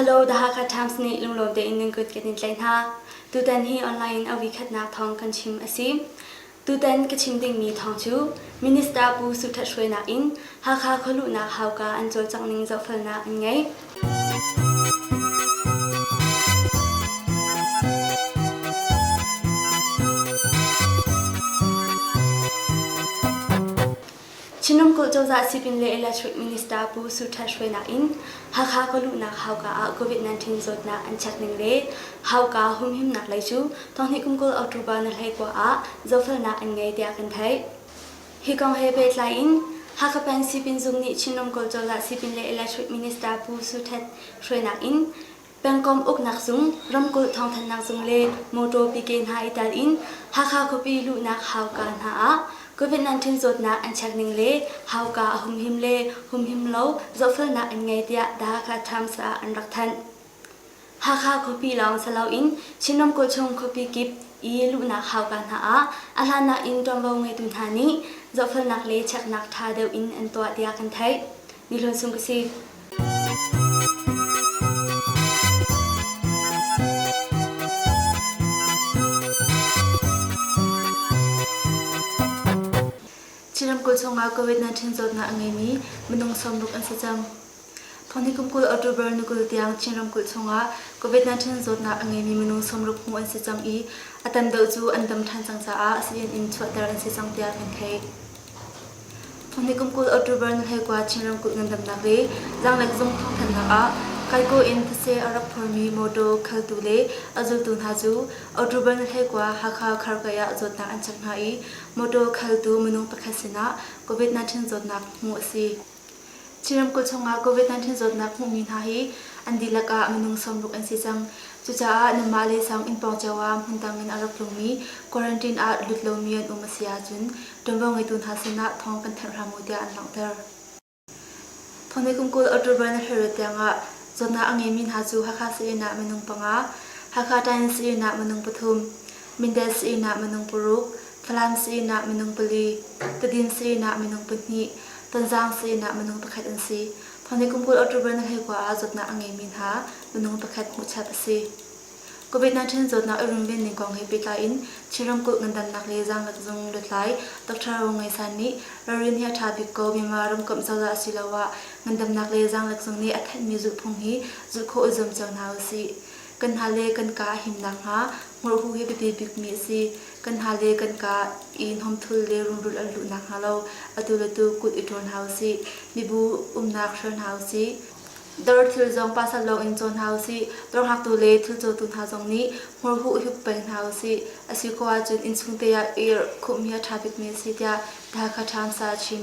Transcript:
Hello, The Hakha Times nih lunglawm tein nan kut kan in tlaih hna. Tutan hi online in a vikhatnak thawng kan chim a si. Tutan ka chim dingmi thawng cu Minister Pu Su That Hruai nak in Hakha khualuhnak hauka an cawlcangh ning zohfelnak an ngei. Chinumkuh cozah sipin le electric minister Pu Su Ṭhat hruainak in Hakha kawluhnak hauka ah COVID-19 zawtnak an chek ning le hauka humhimnak lei cu thonghni kum kul October na hlei kua ah zohfelnak an ngei tiah kan theih. Hi kong he pehtlai in Hakha Pan Sipin Zung nih Chinram Kawl Cozah Sipin le Electric Minister Pu Su Htet hruainak in Pengkomh Uknak Zung, Ramkulh Thawngthanhnak Zung le Mawtaw Pike hna i tel in Hakha khuapi luhnak hauka hna ah Covid-19 zawtnak an check ning le hauka a humhim le humhim lo zohfelnak an ngei tiah The Hakha Times ah an rak thanh. Hakha khuapi lawng si loin Chinram kawchung khuapi kip i luhnak hauka hna ah a hlanah in ṭuanvo ngeitu hna nih zohfelnak le cheknak ṭha deuh in an tuah tiah kan theih. Ni Hlun Sung ka si. Chinram kawchung ah COVID-19 zawtnak a ngeimi minung sawm ruk an si cang. Thawngṭha kum kul October ni kul tiang Chin ramkulh chungah COVID-19 zawtnak a ngeimi minung sawmruk hmuh an si cang i a tam deuh cu an dam ṭhan cang caah civil in chuahter an si cang tiah kan theih. Thawngṭha kum kul October ni hleikua Chin ramkulh ngandamnak le zaanglek zung thawngthanhnak ah Kaiko in thetse a rak phormi mawṭaw khaltu le a zultu hna cu October ni hleikua Hakha Kharkei ah zawtnak an chek hna i mawṭaw khaltu minung pakhat sinah COVID-19 zawtnak hmuh a si. Chinram kul chungah COVID-19 zawtnak hmuhmi hna hi an dihlak ah minung sawmruk an si cang. Cucaah nanmah le sang innpawng cio ah hmundang in a rak tlungmi quarantine ah lut lomi an um a si ahcun ṭuanvo ngeitu hna sinah thawng kan thanh hram u tiah an langhter. Thawngmei kumkul October na hleirut tiangah zawtnak a ngeimi hna cu Hakha sayinn ah minung panga, Hakha Times sayinn ah minung pathum, Mindat sayinah minung paruk, Falam sayinah minung pali, Tadin sayinah minung pahnih, Tonzang sayinah minung pakhat an si. Thawni kum kul October na hleikua ah zawtnak a ngeimi hna minung pakhat hmuhchap a si. COVID-19 zawtnak i rumbin ning kong he pehtlai in Chin ramkulh ngandamnak le zaangat zung lutlai Dr. Ro Ngai San nih ralrin hi a ṭha bik ko Myanmar ramkomh cozah asiloah ngandamnak le zaanglek zung nih a thanhmi zulhphung hi zulh khawh i zuam cio hna usih. Kan hna le kan kaa a him nakhnga hmurhu hi biapi bikmi a si. Kan hna le kan kaa i hnawmthul le runrul an luh nakhnga lo atu le tu kut i ṭawn hna u sih. Mibu umnak hrial hna u sih. Dar thil zong pasal lawngin cawn hna u sih. Dar hngaktu le thil cawtu hna zong nih hmurhu hup peng hna u sih. A si ko ahcun innchungte ah ir khumh hi a ṭha bikmi a si tiah Hakha Times ah a chim.